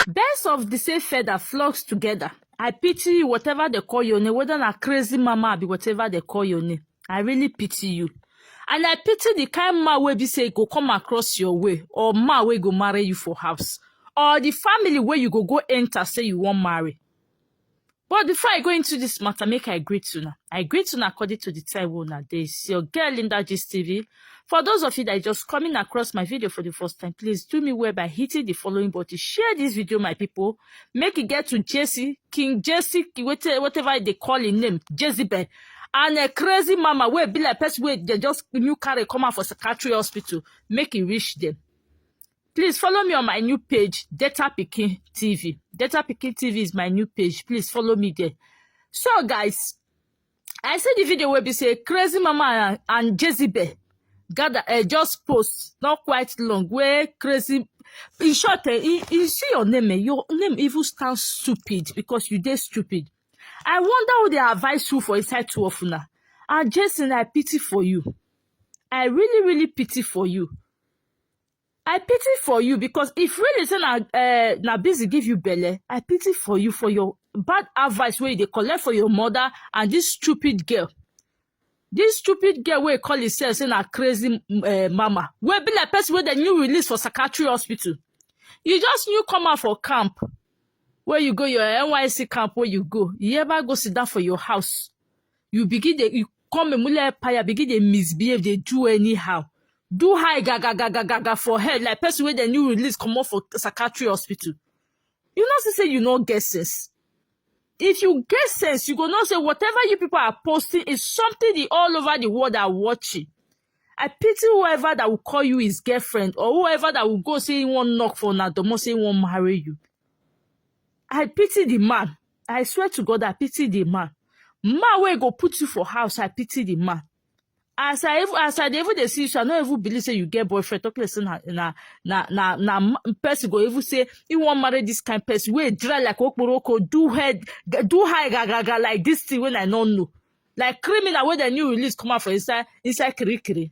Birds of the same feather flocks together. I pity you, whatever they call your name, whether na crazy mama be whatever they call your name. I really pity you. And I pity the kind man wey be say go come across your way or man wey go marry you for house or the family where you go go enter say you wan marry. But before I go into this matter, make I greet una. I greet una according to the time wey una dey. It's your girl Linda Gist TV. For those of you that are just coming across my video for the first time, please do me well by hitting the following button. Share this video, my people. Make it get to Jesse, King Jesse, whatever whatever they call him name, Jezebel. And a crazy mama wey be like person wey dey just new carry come out for psychiatry hospital, make it reach them. Please follow me on my new page, Data Picking TV. Data Picking TV is my new page. Please follow me there. So, guys, I see the video where we say Crazy Mama and, and Jezebel gather uh, just post not quite long where Crazy in short eh, you, you see your name eh, your name even stand stupid because you dey stupid i wonder who dey advise you for inside two of una and jason i pity for you i really really pity for you i pity for you because if really say na uh, na busy give you belle i pity for you for your bad advice wey you dey collect for your mother and this stupid girl this stupid girl wey call herself say na crazy uh, mama wey be like person wey dem new release for psychiatry hospital you just new come out for camp wey you go your nysc camp wey you go you ever go sit down for your house you begin dey you come emule empire begin dey misbehave dey do anyhow do high gagagagagaga for head like person wey dem new release comot for psychiatry hospital you know see say you no get sense if you get sense you go know say whatever you people are posting is something the all over the world are watching i pity whoever that will call you his girlfriend or whoever that will go say he wan knock for una domo say he wan marry you i pity the man I swear to God, I pity the man. Man wey go put you for house, I pity the man. As I even as I dey even dey see you, so I no even believe say you get boyfriend. Talk like say na na na na na ma- person go even say he wan marry this kind person wey dry like okporoko, do head, do high gagaga like this thing wey I no know, like criminal wey dem new release come out for inside inside kirikiri.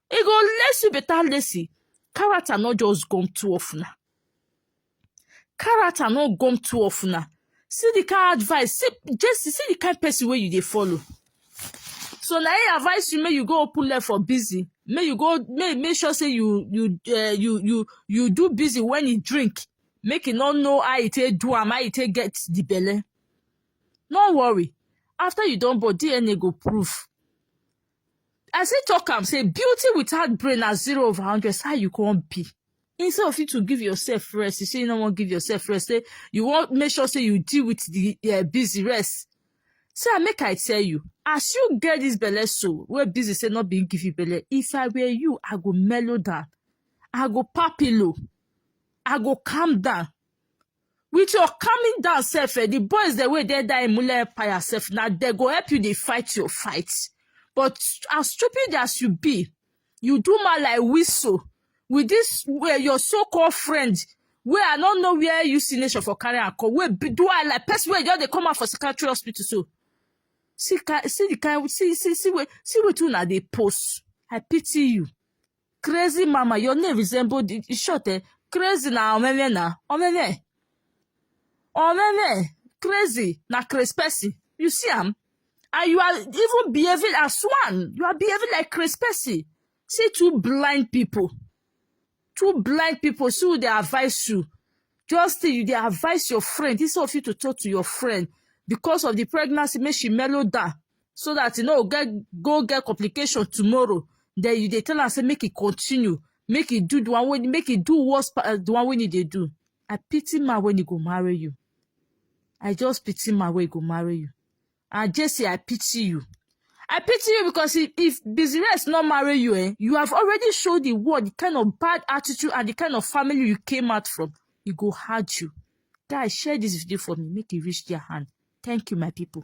e go lace you better lacy character no just gum two of una character no gum two of una see the kind advice see jesse see the kind person wey you dey follow so na him advise you make you go open leg for busy make you go make make sure say you you uh, you you you do busy when you drink make you no know how you take do am how you take get the belle no worry after you don born dna go prove I still talk am say beauty without brain na zero over hundred so how you come be instead of you to give yourself rest you say you no wan give yourself rest say you wan make sure say you deal with the uh, busy rest say ah, make i tell you as you get this belle so wey busy say no be him give you belle if i were you i go mellow down i go papilo i go calm down With your calming down self, eh, the boys the way they die in Mule Empire self, now they go help you they fight your fight. But as stupid as you be, you do my like whistle with this where your so-called friend wey i no know where you see nation for carry am come wey be do i like person wey just dey come out for psychiatry hospital so see ki see the kind see see see wey see wetin una dey post i pity you crazy mama your name resemble the e short eh crazy na omeme na omeme omeme crazy na crazy person you see am and you are even behaving as one you are behaving like crazy person see two blind people two blind people see who dey advise you just say you dey advise your friend instead of you to talk to your friend because of the pregnancy make she mellow down so that e no get go get complication tomorrow then you dey tell am say make e continue make e do the one wey make e do worse pa- uh, the one wey e dey do i pity man wey e go marry you i just pity man wey e go marry you and jesse i pity you i pity you because if, if business no marry you eh you have already showed the world the kind of bad attitude and the kind of family you came out from e go hard you guys share this video for me make e reach their hand thank you my people.